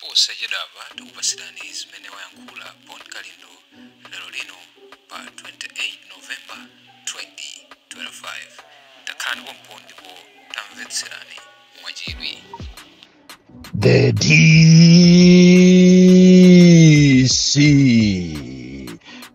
posachedwapa tikupatsirani zimene wayankhula bon kalindo lero lino pa 28 november 2025 takhalani pompo ndipo tamvetserani mwachidwi The DC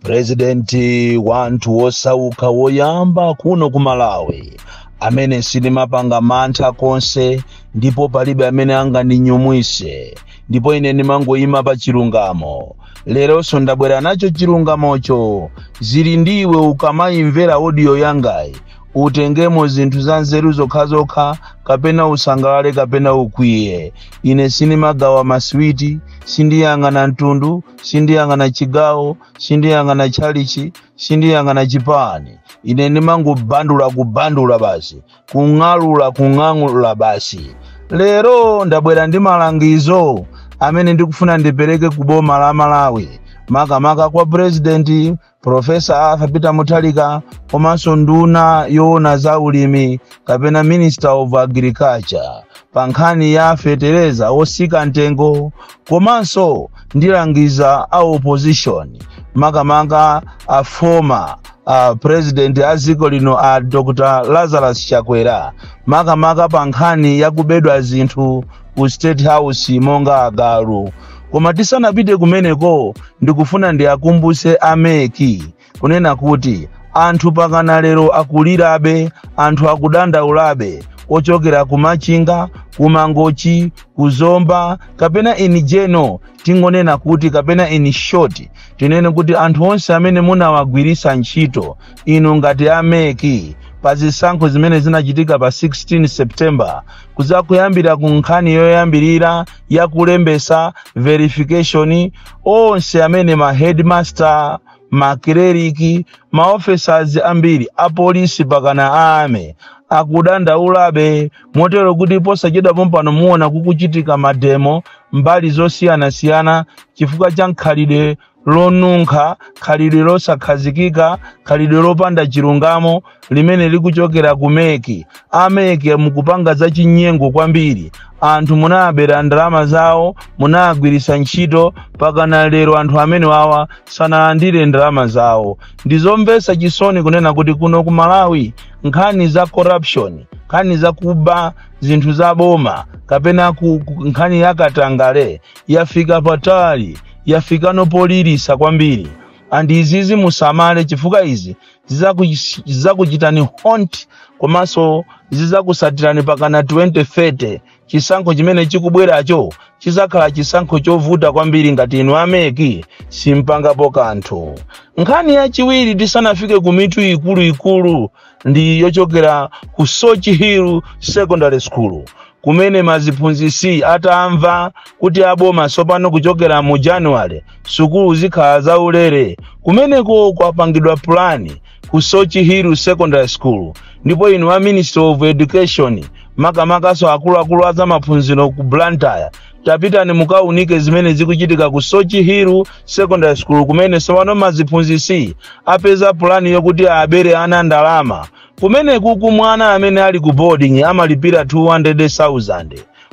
purezidenti wa anthu wosauka woyamba kuno ku malawi amene sindimapanga mantha konse ndipo palibe amene angandinyumwise ndipo ine ndimangoyima pa chilungamo leronso ndabwera nacho chilungamocho zili ndi iwe ukamayimvera odiyo yangayi utengemo zinthu za nzeru zokhazokha kapena usangalale kapena ukwiye ine sindimagawa maswiti sindiyang'ana mtundu sindiyang'ana chigawo sindiyang'ana tchalichi sindiyang'ana chipani ine ndimangobandula kubandula basi kung'alula kung'alula basi lero ndabwera ndi malangizo amene ndikufuna ndipereke ku boma la malawi makamaka kwa purezidenti Profesa Arthur Peter Mutharika komanso nduna yoona za ulimi kapena Minister of Agriculture pa nkhani ya fetereza otsika mtengo komanso ndilangiza a opposition makamaka a former a president a dziko lino a Dr. Lazarus Chakwera makamaka pa nkhani ya kubedwa zinthu ku state house monga agalu koma tisanapite kumeneko ndikufuna ndiakumbutse a MEC kunena kuti anthu pakana lero akulirabe anthu akudandaulabe ochokera ku machinga ku mangochi ku zomba kapena in general tingonena kuti kapena in short tinene kuti anthu onse amene munawagwiritsa ntchito inu ngati a MEC pa zisankho zimene zinachitika pa 16 september kudza kuyambira ku nkhani yoyambirira ya kulembetsa verification onse amene ma headmaster makleriki maofesas ambiri apolisi pakana ame akudandaulabe motero kuti posachedwa pompano muona kukuchitika mademo mbali zosiyanasiyana chifukwa cha mkhalidwe lonunkha khalidwe losakhazikika khalidwe lopanda chilungamo limene likuchokera ku MEC a MEC mukupanga za chinyengo kwambiri anthu munaabera ndalama zawo munaagwiritsa ntchito pakana lero anthu amenewawa sanalandire ndalama zawo ndizomvetsa chisoni kunena kuti kuno ku malawi nkhani za corruption nkhani za kuba zinthu za boma kapena ku nkhani ya katangale yafika patali yafika nopolilisa kwambiri and izizi musamale chifukwa izi zizakuch- zizakuchitani haunt komanso zizakusatirani pakana 2030 chisankho chimene chikubweracho chizakhala chisankho chovuta kwambiri ngati inu a MEC simpangapo kanthu nkhani yachiwiri tisanafike ku mitu ikuluikulu ndi yochokera ku soche hill secondary school kumene maziphunzisi atamva kuti aboma tsopano kuchokera mu januwale sukulu zikhala zaulere kumeneko kwapangidwa pulani ku soche hill secondary school ndipo inu a ministry of education makamakanso akuluakulu a zamaphunziro ku blantyre tapitani mukaunike zimene zikuchitika ku soche hill secondary school kumene sopano maziphunzisi apeza pulani yokuti abere ana ndalama kumeneku ku mwana amene ali ku boarding amalipira 200,000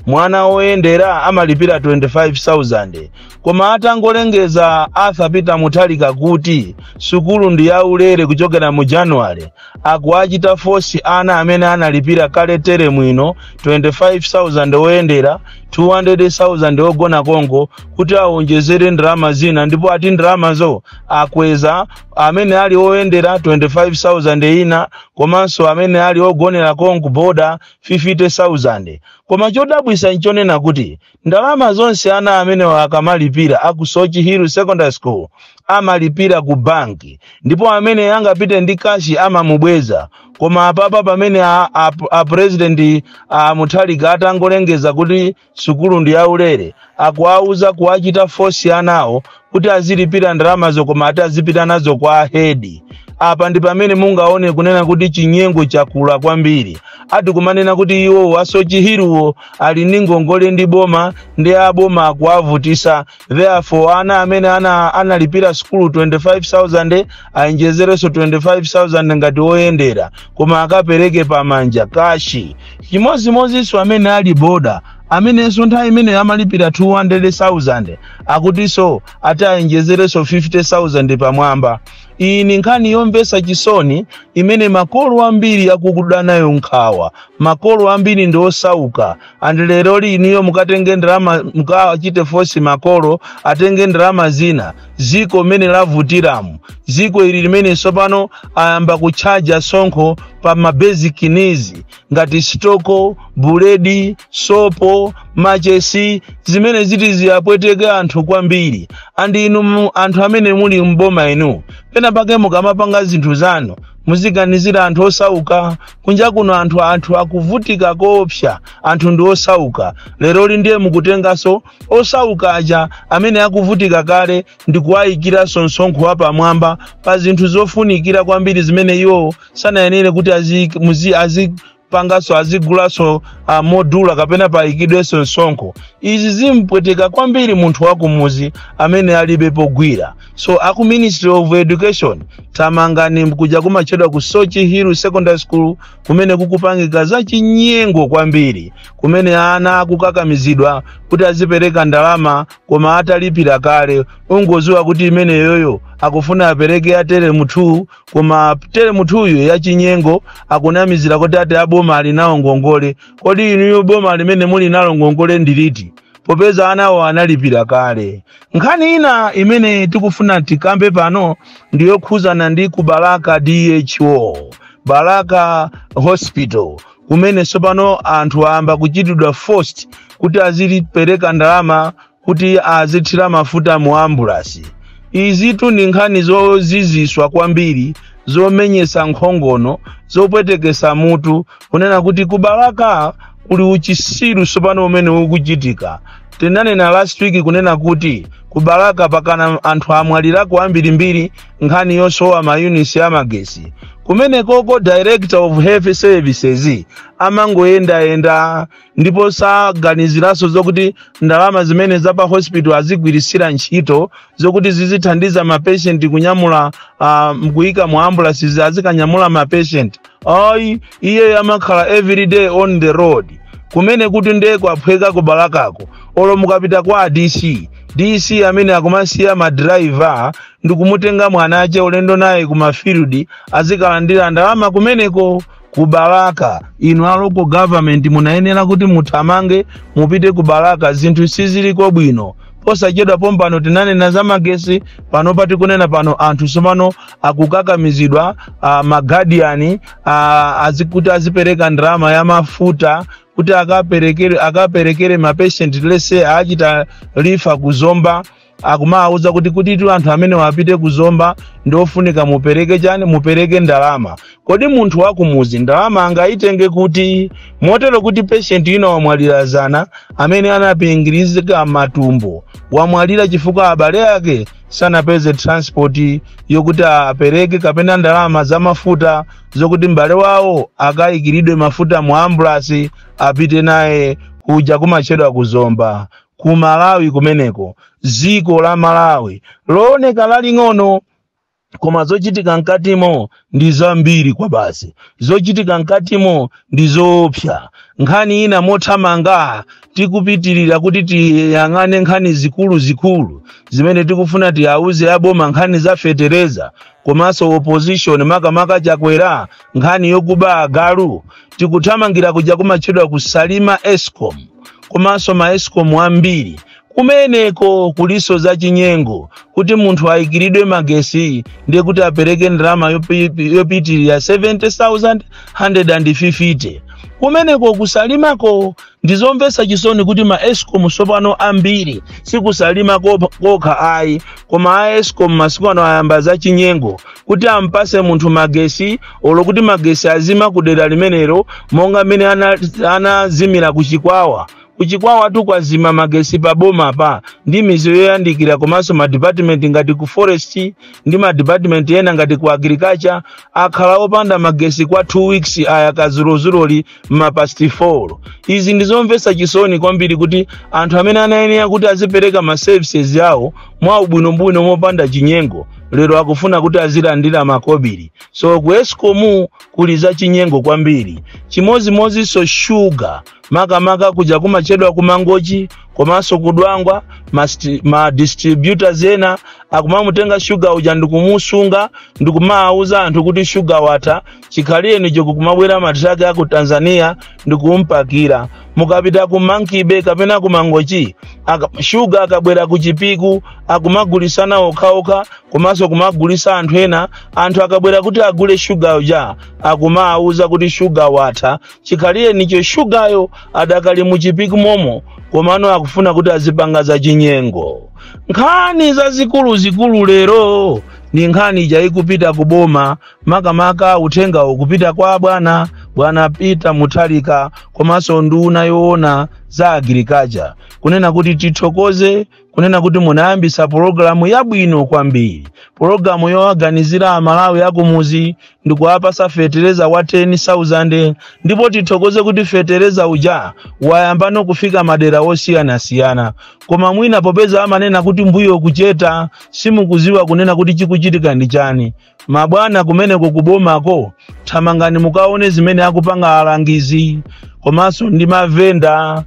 mwana woyendera amalipira 25,000 koma atangolengeza arthur peter mutharika kuti sukulu ndi yaulere kuchokera mu januwale Akuwachita force ana amene analipira kale teremu ino 25,000 oyendera, 200,000 ogona konko kuti awonjezere ndalama zina ndipo ati ndalamazo akweza amene ali oyendera 25,000 ina komanso amene ali ogonera konko boda 50,000. Koma chodabwisa nchonena kuti Ndalama zonse ana amenewa akamalipira a ku Soche Hill Secondary School amalipira ku bank ndipo amene angapite ndi cash amamubweza koma apapa pamene a president a Mutharika atangolengeza kuti sukulu ndi yaulere akuwauza kuwachita force anawo kuti azilipira ndalamazo koma ati azipita nazo kwa ahedi apa ndi pamene mungaone kunena kuti chinyengo chakula kwambiri ati kumanena kuti iwo a soche hill wo ali ndi ngongole ndi boma ndi aboma akuwavutisa therefore ana amene analipira sukulu 25000 awonjezerenso 25000 ngati oyendera koma akapereke pamanja kashi chimodzimodzinso amene ali boda amenenso nthawi imene amalipira 200000 akutiso ati awonjezereso 50000 pamwamba iyi ni nkhani yomvesa chisoni imene makolo ambiri akukuda nayo nkhawa makolo ambiri ndi osauka andi leroli inuyo mukatenge ndalama mukachite fosi makolo atenge ndalama zina ziko mene lavutiramu ziko ili limene sopano ayamba kutchaja sonkho pa mabasic needs ngati sitoko buledi sopo machesi zimene ziti ziyapweteke anthu kwambiri andi inu mu- anthu amene muli mboma inu pena pake mukamapanga zinthu zanu muziganizira anthu osauka kunja kuno anthu anthu akuvutika koopsa anthu ndi osauka leroli ndiye mukutenganso osauka aja amene akuvutika kale ndi kuwayikiranso msonkho wapamwamba pa zinthu zofunikira kwambiri zimene iwowo sanayenere kuti azi- muzi- azipanganso azigulanso ah, modula kapena payikidwenso msonkho izi zimpweteka kwambiri munthu wakumuzi amene alibe pogwira so aku ministry of education tamangani kuja kumatchedwa ku sochi hill secondary school kumene kukupangika zachinyengo kwambiri kumene ana akukakamizidwa kuti azipereka ndalama koma atalipira kale ungoziwa kuti imeneyoyo akufuna apereke ya teremu 2 koma teremu 2yu yachinyengo akunamizira kuti ati aboma ali nawo ngongole kodi inuyo boma limene muli nalo ngongole ndiliti popeza anawo analipira kale nkhani ina imene tikufuna tikambe pano ndiyokhuzana ndi ku balaka dho balaka hospital kumene tsopano anthu ayamba kuchitidwa forced kuti azipereka ndalama kuti azithira mafuta mu ambulasi izitu ndi nkhani zoziziswa kwambiri zomenyesa nkhongono zopwetekesa mutu kunena kuti kubalaka kuli uchisiru sopano umene ukuchitika tinanena last week kunena kuti kubalaka pakana anthu amwalirako ambirimbiri nkhani yosowa mayunitsi a magesi kumenekoko director of health services amangoyendayenda ndipo saganiziranso zokuti ndalama zimene za pa hospital azigwiritsira ntchito zokuti zizithandiza mapeshenti kunyamula uh, mkuyika mu ambulansi azikanyamula mapeshenti ayi iye amakhala everyday on the road kumenekutu ndiye kwaphweka kubalakako olo mukapita kwa dc dc amene akumasiya madrayiva ndikumutenga mwana ache ulendo naye ku mafield azikalandira ndalama kumeneko ku balaka inu a local government munayenera kuti muthamange mupite ku balaka zinthu siziliko bwino posachedwa pompano tinanena za magesi pano pati kunena pano anthu sopano akukakamizidwa uh, magadiyani uh, azi, kuti azipereka ndalama ya mafuta kuti akaperekere akaperekere mapeshenti lese achita refer ku zomba akumawauza kuti kutitu anthu amenewa apite ku zomba ndi ofunika mupereke chani mupereke ndalama kodi munthu wakumuzi ndalama angayitenge kuti motero kuti peshenti ina wamwalira zana amene anapingirizika matumbo wamwalira chifukwa abale ake sanapeze transport yokuti apereke kapena ndalama za mafuta zokuti m'bale wawo akayikiridwe mafuta mu ambulasi apite naye kuja kumatchedwa ku zomba ku malawi kumeneko dziko la malawi looneka laling'ono koma zochitika mkatimo ndi zambiri kwa basi zochitika mkatimo ndi zoopsa nkhani ina mothamanga tikupitirira kuti tiyang'ane nkhani zikuluzikulu zimene tikufuna tiwauze aboma nkhani za fetereza komanso opposition makamaka chakwera nkhani yokuba agalu tikuthamangira kuja kumatchedwa ku salima escom komanso ma escom ambiri kumeneko kuliso za chinyengo kuti munthu ayikiridwe magesi ndiye kuti apereke ndalama yopi- yopitirira 70150 kumeneko ku salimako ndizomvetsa chisoni kuti ma escom tsopano ambiri si ku salima ko- kokha ayi koma a escom masiku ano ayamba za chinyengo kuti ampase munthu magesi olo kuti magesi azima ku dera limenelo monga mmene ana- anazimira ku chikwawa ku chikwawa tu kwazima magesi pa bomapa ndi midzi yoyandikira komanso madipatimenti ngati ku forest ndi madipatimenti ena ngati ku agriculture akhala opanda magesi kwa 2 weeks ayaka dzulodzuloli m'ma pasti 4 izi ndi zomvetsa chisoni kwambiri kuti anthu amene anayenera kuti azipereka ma services awo mwa ubwinobwino mopanda chinyengo lero akufuna kuti azilandira makobiri so ku escom kuli za chinyengo kwambiri chimodzimodzinso shuga makamaka kuja kumatchedwa ku mangochi komanso ku dwangwa ma, sti- ma distributors ena akumamutenga shuga uja ndikumusunga ndikumawuza anthu kuti shuga watha chikhalirenicho kukumabwera matraki a ku tanzania ndi kumpakira mukapita ku monkey bay kapena ku mangochi aka- shuga akabwera ku chipiku akumagulisana okhaokha komanso kumagulisa anthu ena anthu akabwera kuti agule shuga uja akumawuza kuti shuga watha chikhalirenicho shugayo adakali mu chipiku momo komano akufuna kuti azipanga za chinyengo nkhani zazikuluzikulu lero ndi nkhani ija ikupita ku boma makamaka uthengawo kupita kwa bwana bwana peter mutharika komanso nduna yoona za agriculture kunena kuti tithokoze kunena kuti munayambisa pologalamu yabwino kwambiri pologalamu yowaganizira amalawi akumuzi ndikuwapasa fetereza wa 10000 ndipo tithokoze kuti fetereza uja wayambano kufika madera osiyanasiyana koma mwina popeza amanena kuti mbuyo kucheta simukuziwa kunena kuti chikuchitika ndi chani Mabwana kumeneko kubomako thamangani mukaone zimene akupanga alangizi komanso ndi mavenda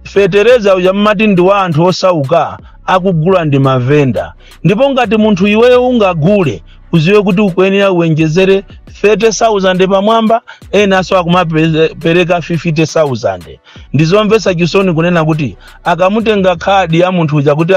fetereza uja mmati ndi wa anthu osauka akugula ndi mavenda ndipo ngati munthu iweyo ungagule uziwe kuti ukuyenera uwenjezere 30,000 pamwamba enanso akumapereka 50,000 ndizomvetsa chisoni kunena kuti akamutenga khadi ya munthu uja kuti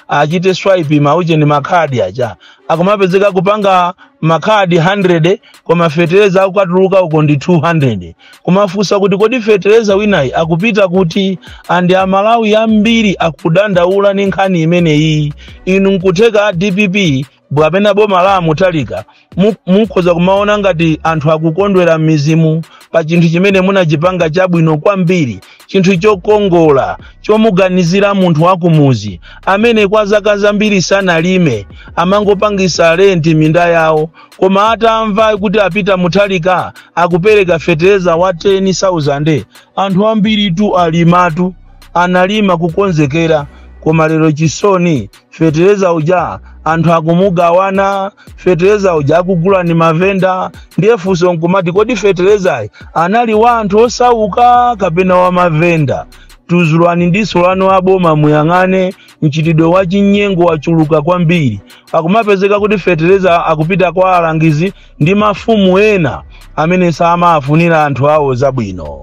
achite swipe mauche ndi makhadi aja akumapezeka kupanga makhadi 100 koma fetereza akukatuluka uko ndi 200 kumafunsa kuti kodi fetereza winayi akupita kuti andi amalawi ambiri akudandaula ni nkhani imeneyi inu nkutheka a dpp bwapena boma la a mutharika mu- mukhoza kumaona ngati anthu akukondwera m'mizimu pa chinthu chimene munachipanga chabwino kwambiri chinthu chokongola chomuganizira munthu wakumuzi amene kwa zaka zambiri sanalime amangopangisa renti minda yawo koma atamva kuti a peter mutharika akupereka fetereza wa 10000 anthu ambiritu alimatu analima kukonzekera koma lero chisoni fetereza uja anthu akumugawana fetereza uja akugula ni mavenda ndiye funso nkumati kodi feterezayi anali wa anthu osauka kapena wa mavenda tuzulani diso lanu aboma muyang'ane mchitidwe wa chinyengo wachuluka kwambiri akumapezeka kuti fetereza akupita kwa alangizi ndi mafumu ena amene samafunira anthu awo zabwino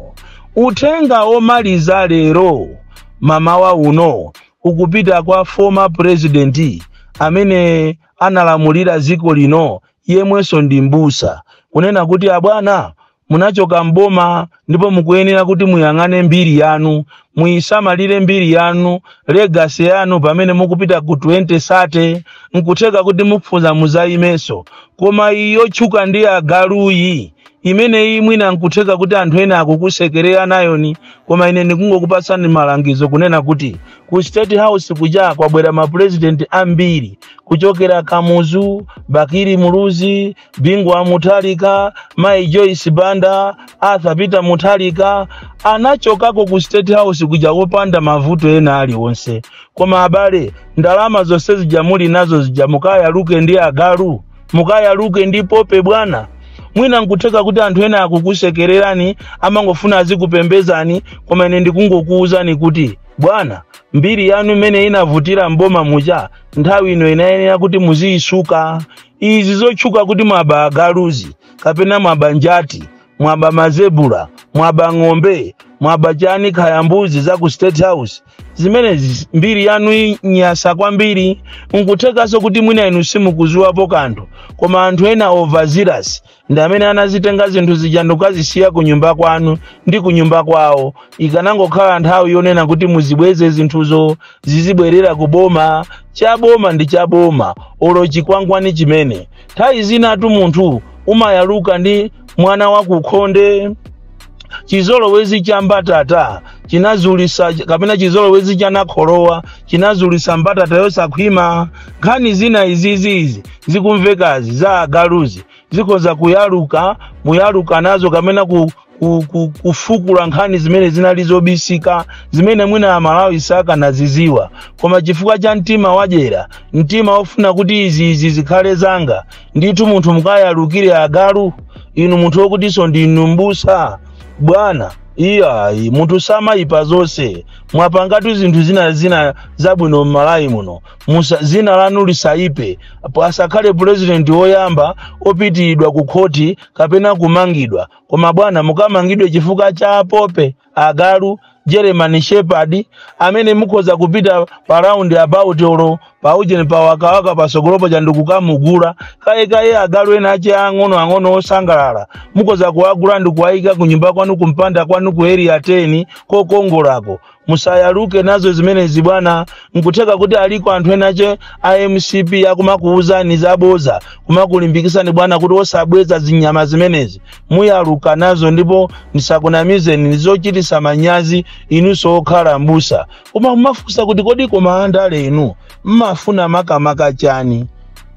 uthenga womaliza lero mamawa uno ukupita kwa former president amene analamulira ziko lino yemwenso ndi mbusa kunena kuti abwana munachoka mboma ndipo mukuyenera kuti muyang'ane mbiri yanu muyisamalire mbiri yanu legacy yanu pamene mukupita ku 2030 nkutheka kuti mukufuna muzayimenso koma iyi yotchuka ndi agaluyi imeneyi mwina nkutheka kuti anthu ena akukusekerera nayoni koma ine ndikungokupatsani malangizo kunena kuti ku state house kuja kwabwera mapurezidenti ambiri kuchokera kamuzu bakili muluzi bingu wa mutharika mayi joyce banda arthur peter mutharika anachokako ku state house kuja wopanda mavuto ena aliwonse koma abale ndalama zonse zija muli nazo zija mukayaluke ndi agalu mukayaluke ndi pope bwana mwina nkutheka kuti anthu ena akukusekererani amangofuna azikupembezani koma ine ndikungokuwuzani kuti bwana mbiri yanu imene inavutira mboma muja nthawi ino inayenera kuti muziyisuka izi zotchuka kuti mwaba agaluzi kapena mwaba njati mwaba mazebula mwaba ng'ombe mwaba chani kaya mbuzi za ku state house zimenezi mbiri yanu inyasa kwambiri nkuthekanso kuti mwina inu simukuziwapo kanthu koma anthu ena overzealous ndi amene anazitenga zinthu zija ndikukazisiya ku nyumba kwanu ndi ku nyumba kwawo ikanangokhala nthawi yonena kuti muzibweze zinthuzo zizibwerera ku boma cha boma ndi cha boma olo chikwangwani chimene nthawi zinatu munthu umayaluka ndi mwana wakukhonde chizolowezi cha mbatata chinazulisa kapena chizolowezi cha nakholowa chinazulisa mbatata yosakhwima nkhani zina izizizi zikumvekazi za agaluzi zikhoza kuyaluka muyaluka nazo kapena ku, ku, ku, kufukula nkhani zimene zinali zobisika zimene mwina amalawi sakanaziziwa koma chifukwa cha mtima wadyera mtima wofuna kuti izi izi zikhale zanga ndithu munthu mukayalukire agalu inu munthu wokutinso ndinu mbusa bwana iyayi munthu samayipa zonse mwapangatu zinthu zina zina zabwino m'malawi muno musa- dzina lanu lisayipe asakhale pulezidenti woyamba opitiridwa ku khoti kapena kumangidwa koma bwana mukamangidwe chifukwa cha pope agalu german shepherd amene mukhoza kupita pa round about olo pa ujeni pa wakawaka pasogolopo chandikukamugula kayekaye agalu ena ache ang'ono ang'ono osangalala mukhoza kuwagula ndikuwayika ku nyumba kwanu kumpanda kwanu ku area 10 kokongolako musayaluke nazo zimenezi bwana nkutheka kuti aliko anthu ena ache a mcp akumakuwuzani zaboza kumakulimbikisani bwana kuti osabweza zinyama zimenezi muyaluka nazo ndipo ndisakunamizeni ndizochitisa manyazi inunso okhala mbusa koma mumafunsa kuti kodi koma andale inu mmafuna makamaka chani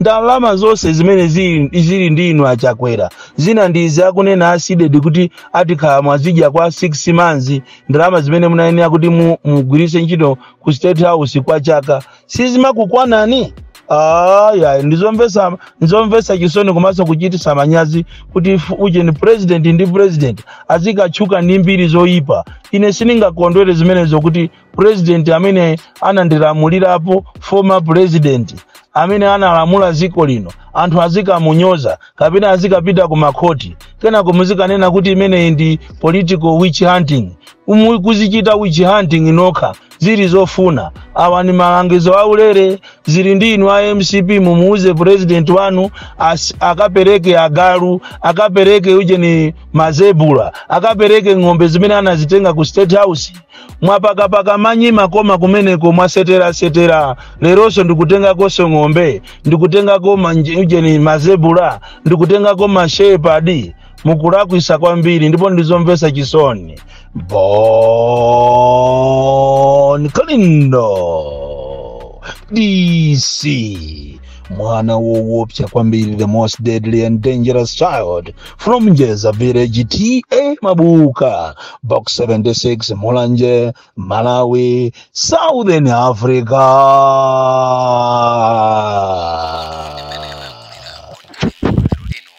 ndalama zonse zimene zili zili ndi inu achakwera zina ndi izi akunena asidedi kuti ati kale mwazidya kwa 6 months ndalama zimene munayenera kuti mu- mugwiritse ntchito ku state house kwa chaka sizimakukwanani ayi ndizomvesa ndizomvesa chisoni komanso kuchitisa manyazi kuti f- ujeni president ndi president azikatchuka ndi mbiri zoyipa ine sindingakondwere zimenezo kuti president amene anandilamulirapo former president amene analamula dziko lino anthu azikamunyoza kapena azikapita ku makhoti kenako muzikanena kuti imeneyi ndi political witch hunting mukuzichita witch hunting nokha zili zofuna awa ni malangizo aulere zili ndi inu a MCP mumuuze president wanu as, akapereke agalu akapereke ujeni mazebula akapereke ng'ombe zimene anazitenga ku state house mwapakapaka manyi makoma kumeneko mwaseterasetera leronso ndikutengakonso ng'ombe ndikutengako manje- ujeni mazebula ndikutengako mashepadi mukulakwisa kwambiri ndipo ndizomvesa chisoni bon kalindo DC mwana wowopsa kwambiri the most deadly and dangerous child from njeza village TA mabuka box 76 mulanje malawi southern africa